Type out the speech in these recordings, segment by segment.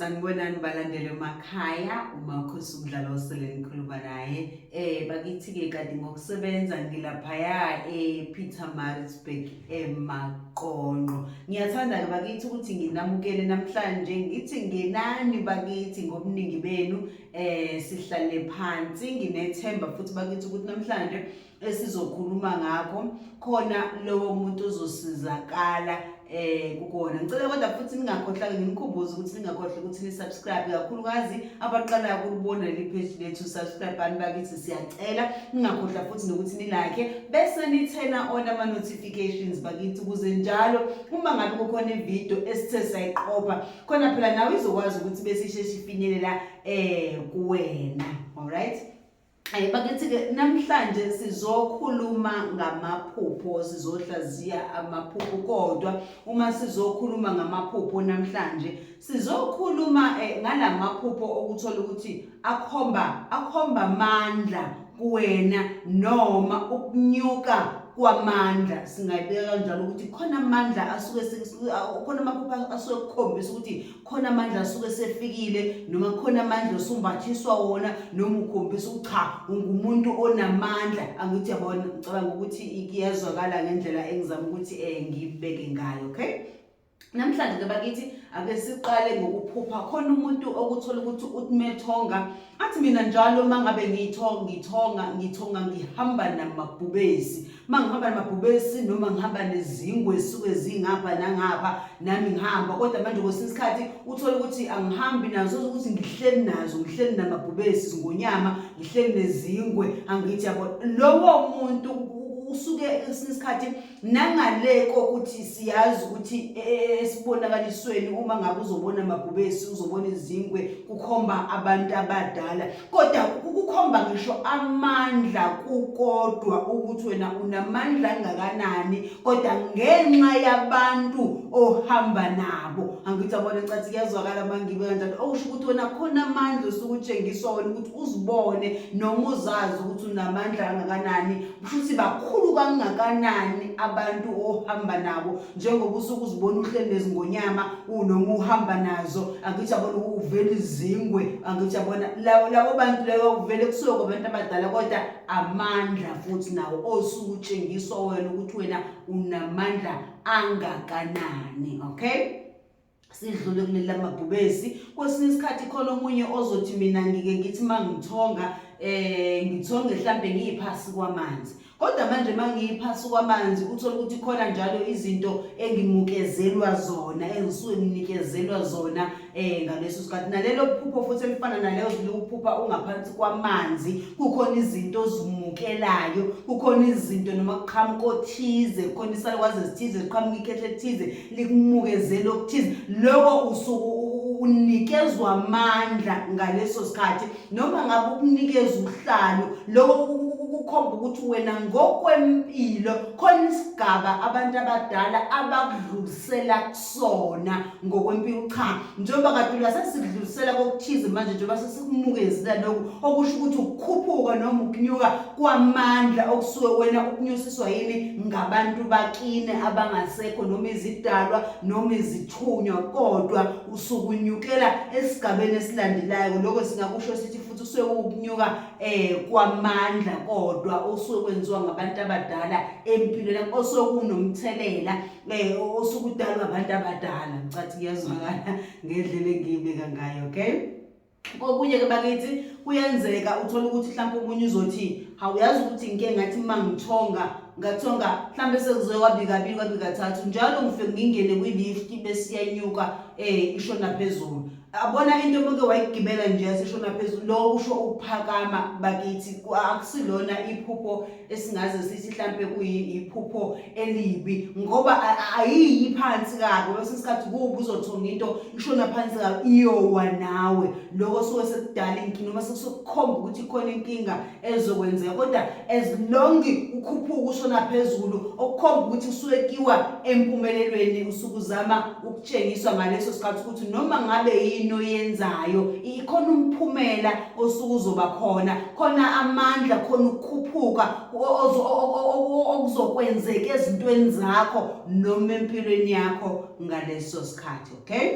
sanibonani balandele emakhaya umakhosi umdlalo osele nikhuluma naye um bakithi-ke kanti ngokusebenza ngilaphaya e-peter marisburg emaqonqo ngiyathanda-ke bakithi ukuthi nginamukele namhlanje ngithi ngenani bakithi ngobuningi benu um sihlale phansi nginethemba futhi bakithi ukuthi namhlanje esizokhuluma ngakho khona lowo muntu uzosizakala eh kukona ngicela kodwa futhi ningakhohlanga ngimkhumbuze ukuthi ningakhohlwa ukuthi ni-subscribe kakhulukazi abaqalayo kulibona leli page lethu subscribe bani bakithi siyacela ningakhohlwa futhi nokuthi nilakhe bese nithena on ama-notifications bakithi ukuze njalo uma ngabe kukhona ividiyo esithe sayiqopha khona phela nawe izokwazi ukuthi besisheshe ifinyelela um kuwena all right Eh, bakithi-ke namhlanje sizokhuluma ngamaphupho sizohlaziya amaphupho kodwa uma sizokhuluma ngamaphupho namhlanje sizokhuluma eh, ngala maphupho okuthola ukuthi akhomba akhomba amandla kuwena noma ukunyuka kwamandla singayibeka kanjalo ukuthi khona amandla asuke khona amaphupho asuke kukhombisa ukuthi khona amandla asuke sefikile noma khona amandla osumbathiswa wona noma ukhombisa ukuthi cha ungumuntu onamandla angithi yabona ngicabanga ukuthi kuyezwakala ngendlela engizama ukuthi eh ngibeke ngayo okay namhlanje ke bakithi ake siqale ngokuphupha khona umuntu okuthola ukuthi uthmethonga athi mina njalo mangabe ngiyithonga ngithonga ngithonga ngihamba namabhubesi uma ngihamba namabhubesi noma ngihamba nezingwe esuke zingapha nangapha nami ngihamba kodwa manje kwesinye isikhathi uthole ukuthi angihambi nazo ukuthi ngihleli nazo ngihleli namabhubesi zingonyama ngihleli nezingwe angithi yabo lowo muntu usuke esinye isikhathi nangale kokuthi siyazi ukuthi e, e, e, esibonakalisweni uma ngabe uzobona amabhubesi uzobona izingwe kukhomba abantu abadala kodwa kukukhomba ngisho amandla kukodwa ukuthi wena unamandla angakanani kodwa ngenxa yabantu ohamba nabo angithi abona cathi kuyazwakala mangibe kanjalo okusho ukuthi wena khona amandla osuke utshengiswa wena ukuthi uzibone noma uzazi ukuthi unamandla angakanani Futhi bakhulu kangakanani abantu ohamba nabo njengoba usuke uzibona uhleli nezingonyama unoma uhamba nazo angithi yabona uvela izingwe angithi yabona labo bantu leyo kuvele kusuke kwabantu abadala kodwa amandla futhi nawo osuke utshengiswa wena ukuthi wena unamandla angakanani okay sidlule kuleli lamabhubesi kwesinye isikhathi khona omunye ozothi mina ngike ngithi uma ngithonga um ngithonge mhlawumbe ngiyiphasi kwamanzi kodwa manje uma ngiyiphasi kwamanzi uthole ukuthi khona njalo izinto engimukezelwa zona engisuke nginikezelwa zona um ngaleso sikhathi nalelo phupho futhi elifana naleyo liwuphupha ungaphansi kwamanzi kukhona izinto ozimukelayo kukhona izinto noma kuqhamuka othize kukhona isalukwazi ezithize ziqhamuka ikhehle ethize likumukezela okuthize loko usuku unikezwa amandla ngaleso sikhathi noma ngabe ukunikeza uhlalo loko kukhomba ukuthi wena ngokwempilo khona isigaba abantu abadala abakudlulisela kusona ngokwempilo cha njengoba kade uyasesidlulisela kokuthize manje njengoba sesikubukezile lokhu okusho ukuthi ukukhuphuka noma ukunyuka kwamandla okusuke wena ukunyusiswa yini ngabantu bakini abangasekho noma izidalwa noma izithunywa kodwa usukunyukela esigabeni esilandelayo lokho singakusho sithi futhi usuke ukunyuka eh kwamandla kodwa osuke kwenziwa ngabantu abadala empilweni osuke kunomthelela Eh, osuke udalwa abantu abadala ngicathi kuyazwakala ngendlela engiyibeka ngayo okay kokunye-ke bakithi kuyenzeka uthole ukuthi mhlawumpe omunye uzothi hawu yazi ukuthi ngike ngathi uma ngithonga ngathonga mhlawumbe sekuzoye kwabikabili kwabikathathu njalo ngifike ngingene kwi-lift besiyenyuka um eh, ishona phezulu abona into omuke wayigibela nje yasishona phezulu lo usho ukuphakama bakithi akusilona iphupho esingaze sithi mhlampe kuyiphupho elibi ngoba ayiyi phansi kabi kwesinye isikhathi kuwuba uzothonga into ishona phansi kabi iyowa nawe loko suke sekudala inkinga noma sekusokukhomba ukuthi ikhona inkinga ezokwenzeka kodwa as long ukhuphuka ushona phezulu okukhomba ukuthi usuke kiwa empumelelweni usuke uzama tshengiswa ngaleso sikhathi ukuthi noma ngabe yini oyenzayo ikhona umphumela osuke uzoba khona khona amandla khona ukukhuphuka okuzokwenzeka ezintweni zakho noma empilweni yakho ngaleso sikhathi okay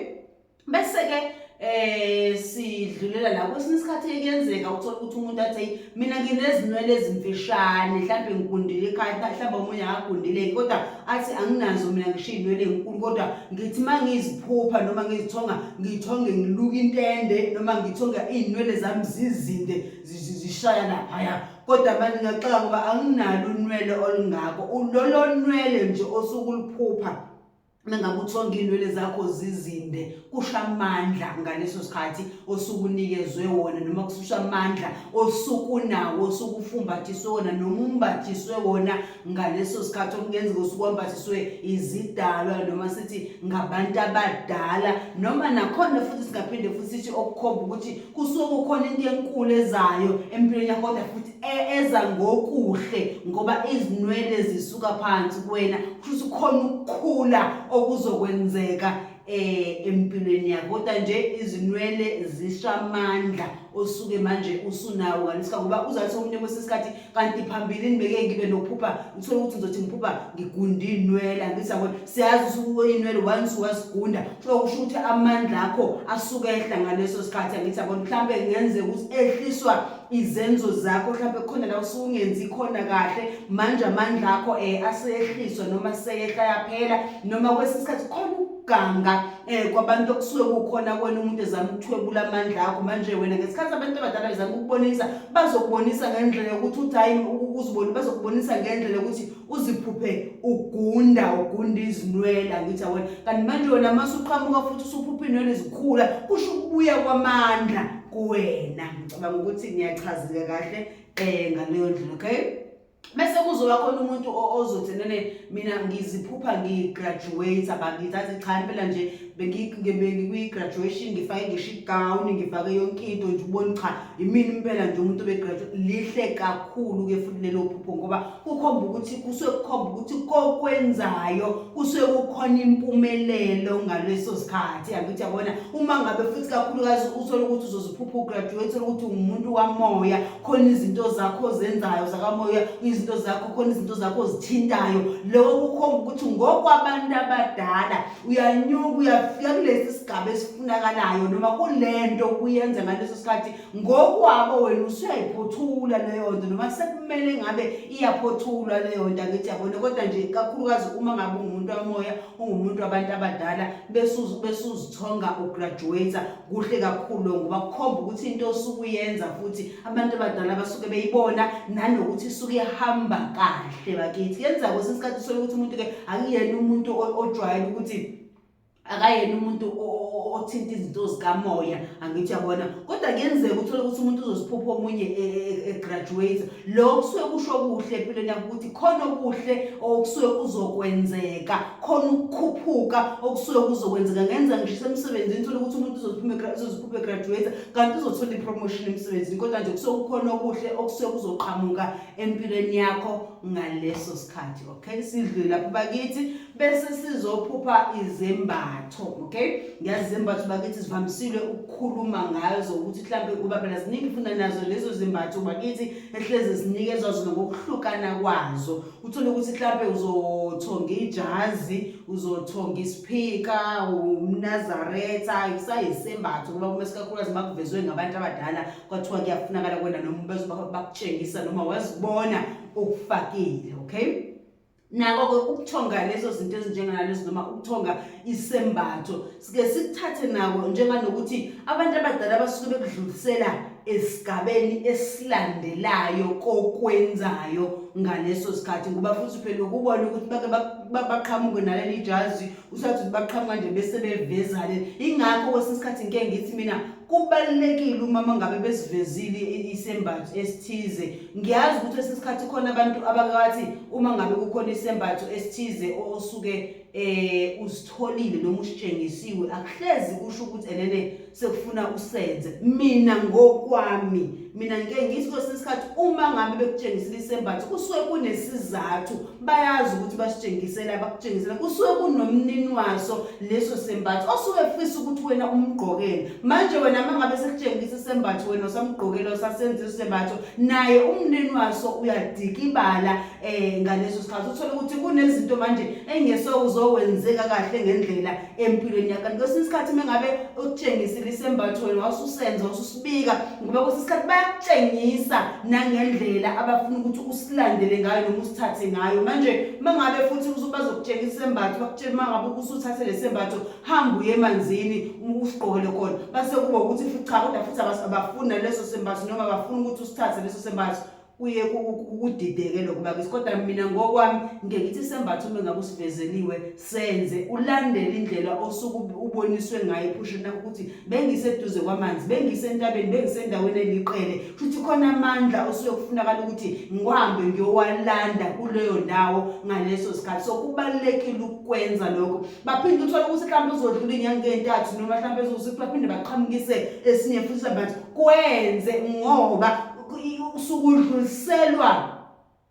bese-ke eh sidlulela la kwesinye isikhathi ekuyenzeka uthola ukuthi umuntu athi mina nginezinwele ezimfishane mhlawumbe ngigundile ekhaya mhlawumbe omunye akagundile kodwa athi anginazo mina ngishiya inwele enkulu kodwa ngithi uma ngiziphupha noma ngizithonga ngithonge ngiluka intende noma ngithonga iy'nwele zami zizinde zishaya laphaya kodwa manje ngiyaxaka ngoba anginalo unwele olungako lolo nwele nje osuke uliphupha mengabe uthonga iy'nwele zakho zizinde kusho amandla ngaleso sikhathi osuke unikezwe wona noma kususha amandla osuke unawo osuke ufumbathiswe wona noma umbathiswe wona ngaleso sikhathi okungenzeka osuke wambathiswe izidalwa noma sithi ngabantu abadala noma nakhona futhi singaphinde futhi sithi okukhomba ukuthi kusuke kukhona into enkulu ezayo empilweni yakho kodwa futhi e-, eza ngokuhle ngoba izinwele zisuka phansi kuwena kusho khona ukukhula okuzokwenzeka eh empilweni yakho kodwa nje izinwele zishamandla osuke manje usunawo ngalesikhathi ngoba uzathi omunye kwesinye isikhathi kanti phambilini beke ngibe nokuphupha ngithole ukuthi ngizothi ngiphupha ngigunda iy'nwele angithi yabo siyazi usuke iy'nwele once wazigunda so kusho ukuthi amandla akho asuke ehla ngaleso sikhathi angithi yabo mhlawumbe kungenzeka ukuthi ehliswa izenzo zakho mhlawumbe khona la usungenzi khona kahle manje amandla akho eh asehliswa noma seyehla yaphela noma kwesinye isikhathi khona ukuganga eh kwabantu okusuke kukhona kwena umuntu ezama ukuthwebula amandla akho manje wena ngesikhathi abantu abadala bezama ukubonisa bazokubonisa ngendlela yokuthi uthi hayi uziboni bazokubonisa ngendlela yokuthi uziphuphe ugunda ugunda izinwele angithi awena kanti manje wena mase uqhamuka futhi usuphupha inwele zikhula kusho ukubuya kwamandla kuwena ngicabanga ukuthi ngiyachazeka kahle um ngaleyo ndlela okay bese kuzoba khona umuntu ozothi nene mina ngiziphupha ngigraduate bangithathe cha impela nje bengikwi-graduation ngifake ngisho igawuni ngifake yonke into nje ubona cha imini impela nje umuntu obegraduate lihle kakhulu-ke futhi lelo phupho ngoba kukhomba ukuthi kusuke kukhomba ukuthi kokwenzayo kusuke kukhona impumelelo ngaleso sikhathi angithi yabona uma ngabe futhi kakhulukazi uthole ukuthi uzoziphupha ugraduate uthole ukuthi ungumuntu wamoya khona izinto zakho zenzayo zakamoya izinto zakho khona izinto zakho zithintayo loko kukhomba ukuthi ngokwabantu abadala uyanyuka uyafika kulesi sigaba esifunakalayo noma kulento kuyenza ngaleso sikhathi ngokwabo wena usuyayiphothula leyo nto noma sekumele ngabe iyaphothulwa leyo nto angithi yabona kodwa nje kakhulukazi uma ngabe ungumuntu wamoya ungumuntu wabantu abadala besuzithonga ugraduate kuhle kakhulu lokho ngoba kukhomba ukuthi into osuke uyenza futhi abantu abadala basuke beyibona nanokuthi isuke ihamba kahle bakithi yenza kwesinye isikhathi usole ukuthi umuntu-ke akuyena umuntu ojwayele ukuthi akayena umuntu othinta izinto zikamoya angithi yabona kodwa kuyenzeka uthole ukuthi umuntu uzosiphupha omunye e, e, e, egraduate lo kusuke kusho kuhle empilweni yakho ukuthi khona okuhle okusuke kuzokwenzeka khona ukukhuphuka okusuke kuzokwenzeka ngenza ngishise emsebenzini thole ukuthi umuntu uzoziphuphe graduate kanti uzothola i-promotion emsebenzini kodwa nje kusuke kukhona okuhle okusuke kuzoqhamuka empilweni yakho ngaleso sikhathi okay sidlule lapho bakithi bese sizophupha izembatho okay ngiyazi izembatho bakithi zivamisile ukukhuluma ngayo zokuthi mhlampe kuba phela ziningi funda nazo lezo zembatho bakithi ehlezi zinikezwa zona ngokuhlukana kwazo uthole ukuthi mhlampe uzothonga ijazi uzothonga isiphika umnazaretha kusayisembatho kuba kume sikakhulukazi uma kuvezwe ngabantu abadala kwathiwa kuyafunakala kwena noma bezoba bakutshengisa noma wazibona ukufakile okay nako-ke ukuthonga lezo zinto ezinjenganalezo noma ukuthonga isembatho Sike sikuthathe nako njenganokuthi abantu abadala basuke bekudlulisela esigabeni esilandelayo kokwenzayo ngaleso sikhathi ngoba futhi phela ukubona ukuthi bake baqhamuke naleli jazi usathi ukuthi baqhamuka nje bese bevezale ingakho kwesinye isikhathi ngike ngithi mina kubalulekile umama ngabe besivezile isembatho esithize ngiyazi ukuthi esesikhathi khona abantu abakathi uma ngabe kukhona isembatho esithize osuke eh uzitholile noma usitshengisiwe akuhlezi kusho ukuthi enene sekufuna usenze mina ngokwami mina ngike ngithi kwesinye isikhathi uma ngabe bekutshengisile isembatho kusuke kunesizathu bayazi ukuthi basitshengisele abakutshengisela kusuke kunomnini waso leso sembatho osuke efisa ukuthi wena umgqokele manje wena uma ngabe sekutshengisa isembatho wena usamgqokela usasenza isembatho naye umnini waso uyadikibala eh ngaleso sikhathi uthola ukuthi kunezinto manje engeso uzokwenzeka kahle ngendlela empilweni yakho kanti kwesinye isikhathi mengabe ukutshengisile isembatho wena wasusenza ususibika ngoba kwesinye isikhathi bayakutshengisa nangendlela abafuna ukuthi usilandele ngayo noma usithathe ngayo manje mangabe futhi bazokutshengisa isembatho bakutshela mangabe usuthathe lesembatho hamba uye emanzini usigqokele khona base kuba ukuthi futhi cha kodwa futhi abafuni naleso sembatho noma bafuna ukuthi usithathe leso sembatho kuye kudideke lokho bakisi kodwa mina ngokwami ngeke ithi sembatha uma ngabe usivezeliwe senze ulandele indlela osuku uboniswe ngayo ephushini lakho ukuthi bengiseduze kwamanzi bengisentabeni bengisendaweni eliqele futhi khona amandla osuke kufunakala ukuthi ngihambe ngiyowalanda kuleyo ndawo ngaleso sikhathi so kubalekile ukwenza lokho baphinde uthole ukuthi mhlawumbe uzodlula inyanga entathu noma mhlawumbe ezokuthi baphinde baqhamukise esinye futhi mhlawumbe kwenze ngoba usukudluliselwa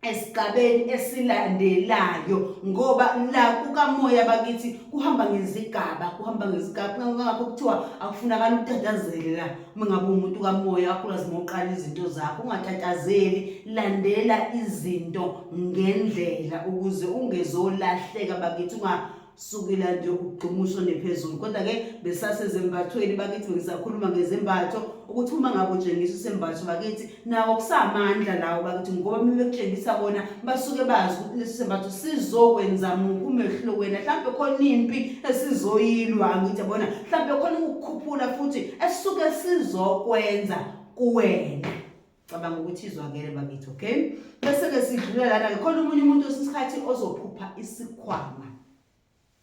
esigabeni esilandelayo ngoba la kukamoya bakithi kuhamba ngezigaba kuhamba ngezigaba ngakho kuthiwa akufunakala ukutatazele la uma ngabe umuntu kamoya wakulazi ngoqala izinto zakho ungatatazeli landela izinto ngendlela ukuze ungezolahleka bakithi unga sukela nje ukugxuma ushone phezulu kodwa ke besasezembathweni bakithi bengisakhuluma ngezembatho ukuthi uma ngabe utshengisa usembatho bakithi nawo kusamandla lawo bakithi ngoba uma bekutshengisa kona basuke bazi ukuthi lesi sembatho sizokwenza muphi umehluko wena mhlawumbe khona impi esizoyilwa ngithi yabona mhlawumbe khona ukukhuphula futhi esisuke sizokwenza kuwena cabanga ukuthi izwakele bakithi okay bese ke sidlula lana ke khona umunye umuntu osikhathi ozophupha isikhwama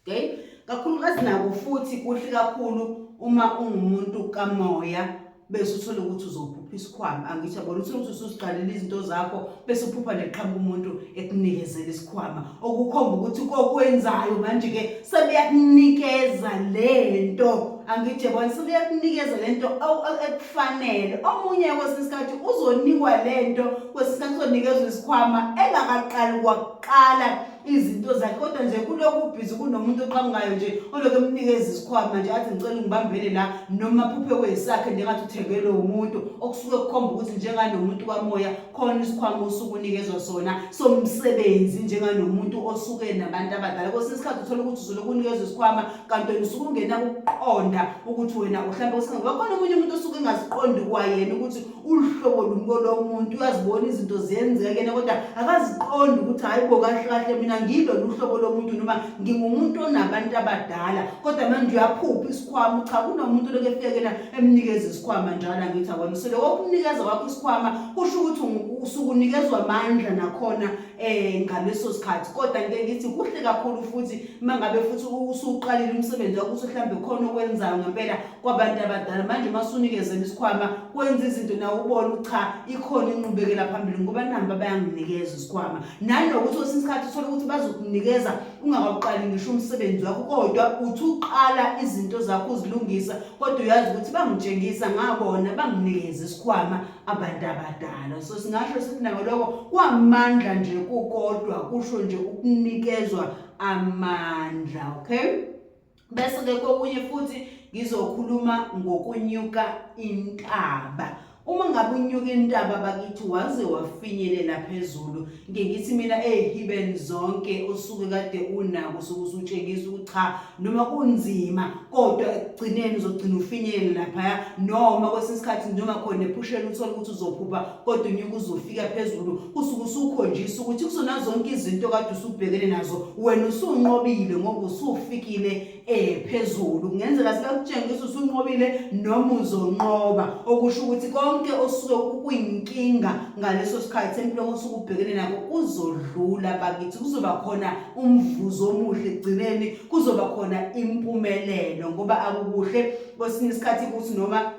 okay kakhulukazi nako futhi kuhle kakhulu uma ungumuntu kamoya bese uthole ukuthi uzophupha isikhwama angithi yabona uthole ukuthi usuziqalela izinto zakho bese uphupha neqhamuka umuntu ekunikezela isikhwama okukhomba ukuthi kokwenzayo manje-ke sebeyakunikeza le nto angitshe bona sebeyakunikeza le nto ekufanele omunye kwesinye isikhathi uzonikwa le nto kwesinye isikhathi uzonikezwa isikhwama engakaqali kwakuqala izinto zakhe kodwa nje kulokhu ubhizi kunomuntu oqhamukayo nje olokhu emnikeza isikhwama nje athi ngicela ungibambele la noma phuphe kwesakhe njengathi uthengelwe umuntu okusuke kukhomba ukuthi njenganomuntu kamoya khona isikhwama osuke unikezwa sona somsebenzi njenganomuntu osuke nabantu abadala kwesinye isikhathi uthole ukuthi uzoloku unikezwa isikhwama kanti wena usuke ungena ukuqonda ukuthi wena uhlambe kwesinga ngoba khona omunye umuntu osuke engaziqondi kwayena ukuthi uluhlobo lumko lomuntu uyazibona izinto ziyenzeka yena kodwa akaziqondi ukuthi hhayi bo kahle kahle mina ngilolu hlobo lomuntu noma ngingumuntu onabantu abadala kodwa manje uyaphupha isikhwama cha kunomuntu lokefekela emnikeza isikhwama njalo angithi akwena so lokho kumnikeza kwakho isikhwama kusho ukuthi usukunikezwa amandla nakhona eh ngaleso sikhathi kodwa ngeke ngithi kuhle kakhulu futhi mangabe futhi usuqalile umsebenzi wakho usuhlambe khona okwenzayo ngempela kwabantu abadala manje masunikezela isikhwama kwenza izinto nawe ubone cha ikhona inqubekela phambili ngoba namba bayanginikeza isikhwama nanokuthi osinsikhathi uthole ukuthi bazokunikeza ungakawuqali ngisho umsebenzi wakho kodwa uthi uqala izinto zakho uzilungisa kodwa uyazi ukuthi bangitshengisa ngabona banginikeza isikhwama abantu abadala so singasho sithi nako lokho kwamandla nje kukodwa kusho nje ukunikezwa amandla okay bese ke kokunye futhi ngizokhuluma ngokunyuka intaba uma ngabe unyuka intaba bakithi waze wafinyelela phezulu ngike ngithi mina ezihiben zonke osuke kade unako soku usutshengisa ukuthi cha noma kunzima kodwa ekugcineni uzogcina ufinyelela laphaya noma kwesinye isikhathi noma khona ephushela uthole ukuthi uzophupha kodwa unyuka uzofika phezulu usuke usukhonjisa ukuthi kuzona zonke izinto kade usubhekene nazo wena usunqobile ngoba usufikile eh phezulu kungenzeka sikakutshengisa usunqobile noma uzonqoba okusho ukuthi konke osuke kuyinkinga ngaleso sikhathi empilweni osuke ubhekene nako kuzodlula bakithi kuzoba khona umvuzo omuhle egcineni kuzoba khona impumelelo ngoba akukuhle kwesinye isikhathi ukuthi noma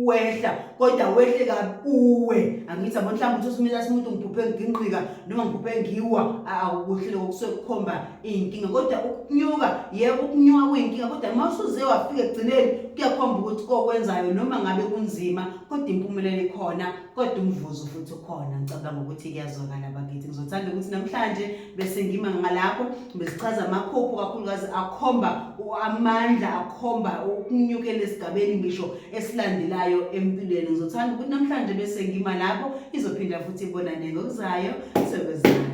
wehla kodwa wehle kabuwe angithi abo mhlawumbe uthi usimila simuntu ngiphuphe nginqika noma ngiphuphe ngiwa akuhle lokho kusuke kukhomba iy'nkinga kodwa ukunyuka yebo ukunyuka kuyinkinga kodwa uma usuze wafika ekugcineni kuyakhomba ukuthi kokwenzayo noma ngabe kunzima kodwa impumelelo ikhona kodwa umvuzo futhi ukhona ngicabanga ukuthi kuyazwakala bakithi ngizothanda ukuthi namhlanje bese ngima ngalapho besichaza amaphupho kakhulukazi akhomba amandla akhomba ukunyukela esigabeni ngisho esilandelayo empilweni ngizothanda ukuthi namhlanje bese ngima lapho izophinda futhi ibonane ngokuzayo sekwezani